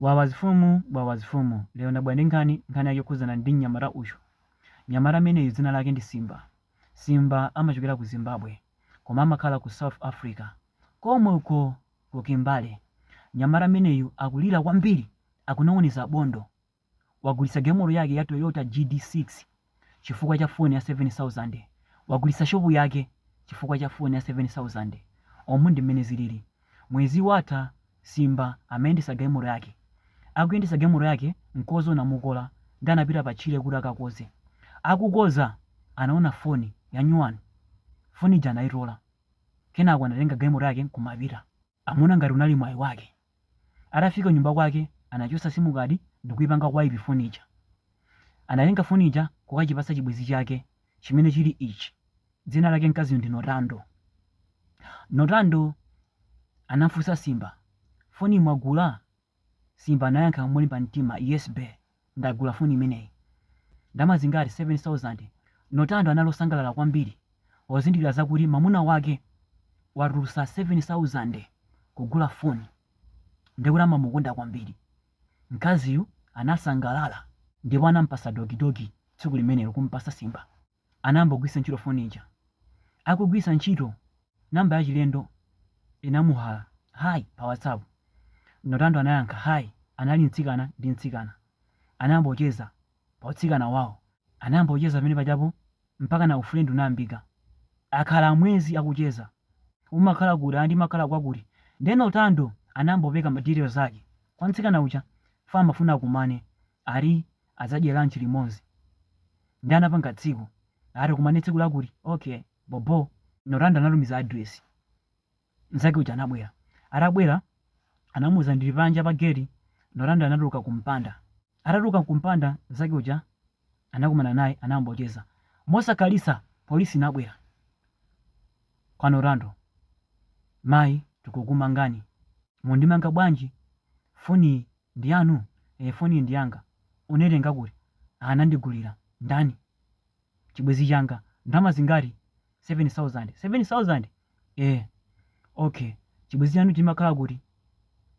Wawa zifumu wawa zifumu lero ndabwera ndi nkhani, nkhani yake yokhudzana ndi mnyamata uyu. Mnyamata ameneyu dzina lake ndi Simba. Simba amachokera ku Zimbabwe koma amakhala ku South Africa komwe uko ku Kimberley. Mnyamata ameneyu akulira kwambiri akunong'oneza bondo. Wagulitsa gemolo yake ya Toyota GD6. chifukwa cha phone ya 7000, wagulitsa shop yake chifukwa cha phone ya 7000, omu ndi mmene zilili. Mwezi watha Simba amayendetsa galimoto yake, akuyendetsa galimoto yake mkodzo unamukola ndi anapita pa tchire kuti akakodze, akukodza anaona phone yanyuwani, phone ija anaitola kenako anatenga galimoto yake nkumapita. Amaona ngati unali mwayi wake. Atafika kunyumba kwake anachotsa simukadi ndikuipanga wipe foni ija. Anatenga foni ija kukachipatsa chibwenzi chake chimene chili ichi. Dzina lake mkaziyu ndi Notando. Notando anamfunsa Simba, foniyi mwagula? Simba anayankha molimba mtima, Yes bae, ndagula foni imeneyi. Ndalama zingati? 7,000. Notando anali osangalala kwambiri pozindikira zakuti mamuna wake watulutsa 7,000 kugula foni ndekuti amamukonda kwambiri. Mkaziyu anasangalala ndipo anampatsa dogidogi tsiku limenelo, kumpatsa Simba. anayamba kugwiritsa ntchito foni ija. Akugwiritsa ntchito number yachilendo inamuhala Hi pa WhatsApp. Notando anayankha Hi anali mtsikana ndi mtsikana. Anayamba kucheza pa utsikana wawo. Anayamba kucheza pamene pajapo mpaka ufriend unayambika. Akhala mwezi akucheza. Umakhala kuti? Ayi ndimakhala kwakuti. Ndiye Notando anayamba kupereka ma details ake kwa mtsikana uja chifukwa amafuna akumane. Ali adzadye lunch limodzi nde anapanga tsiku ati tikumane tsiku lakuti okay bobo notando anatumiza address nzake uja anabwera atabwera anamuuza ndili panja pa gate notando anatuluka kumpanda atatuluka kumpanda nzake uja anakumana naye anayamba kucheza mosakhalitsa polisi inabwera kwa notando mayi tikukumangani mundimanga bwanji foni Ndi yanu? Eeh, foniyi ndi yanga. Unaitenga kuti? Ah, anandigulira. Ndani? Chibwenzi changa. Ndalama zingati? 7,000. 7,000? Eeh. Okay. Chibwenzi chanu chimakhala kuti?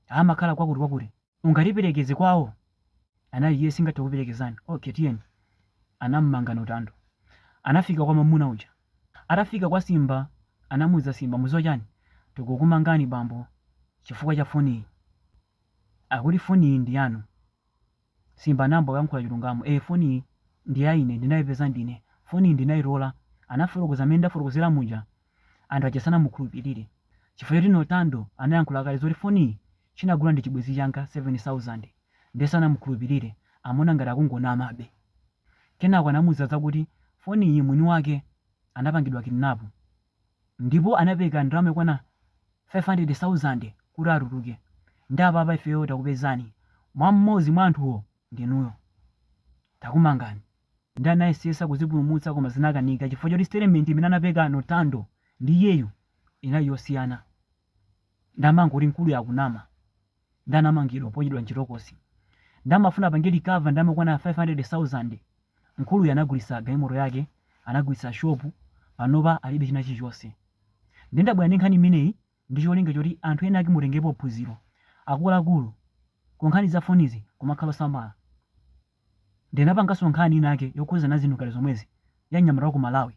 Ah, amakhala kwakuti kwakuti. Ungatiperekeze kwawo? Anati yes, ndingathe kukuperekezani. Okay, tiyeni. Anamumanga Notando. Anafika kwa mwamuna uja. Atafika kwa Simba, anamuuza Simba, mudziwa chani? Tikukumangani bambo chifukwa cha foniyi. Akuti foniyi ndi yanu? Simba anayamba kuyankhula chilungamo. Ee, foniyi ndi ya ine, ndinayipeza ndine. Foniyi ndinayitola. Anafotokoza mmene ndafotokozera muja. Anthu aja sanamukhulupirire chifukwa choti Notando anayankhula kale zoti foniyi chinagula ndi chibwenzi changa 7,000 ndiye sanamukhulupirire, amaona ngati akungonamabe. Kenako anamuuza zakuti foniyi mwini wake anapangidwa kidinapu. Ndipo anapeka ndalama yokwana 500,000 kuti atuluke. Nde apapa ifeyo takupezani. Mmodzi mwa anthuwo ndinuyo. Takumangani. Nde anayesesa kuzipulumutsa koma zinakanika chifukwa choti statement imene anapeka Notando ndi iyeyu inali yosiyana. Nde amangoti mkuluyu akunama. Ndi anamangidwa poyikidwa mchitokosi. Ndi amafuna apange recover ndalama yokwana 500,000. Mkuluyu anagulitsa galimoto yake, anagulitsa shop, panopa alibe china chilichonse. Ndiye ndabwera ndi nkhani imeneyi ndi cholinga choti anthu enaake mutengerepo phunziro. Akuluakulu, ku nkhani za fonizi kumakhala osamala. Ndinapanganso nkhani inayake yokhudzana ndi zinthu ngati zomwezi ya mnyamata wa ku Malawi.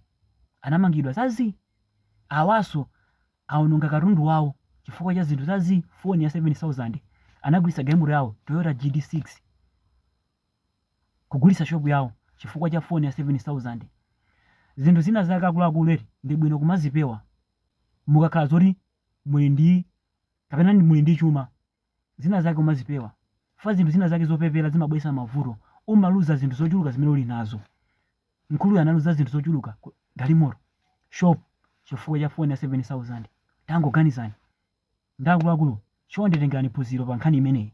Anamangidwa za zii! Awanso awononga katundu wawo chifukwa cha zinthu za zii, foni ya 7000, anagulitsa galimoto yawo, Toyota GD6, kugulitsa shopu yawo chifukwa cha foni ya 7000. Zinthu zina zake akuluakulu eti ndi bwino kumazipewa mukakhala zoti muli ndi kapena muli ndi chuma zina zake umazipewa chifukwa zinthu zina zake zopepera zimabweretsa mavuto umaluza zinthu zochuluka zimene uli nazo mkuluyu analuza zinthu zochuluka galimoto shop chifukwa cha foni ya 7000 tangoganizani ndi akuluakulu chonde tengerani phunziro pa nkhani imeneyi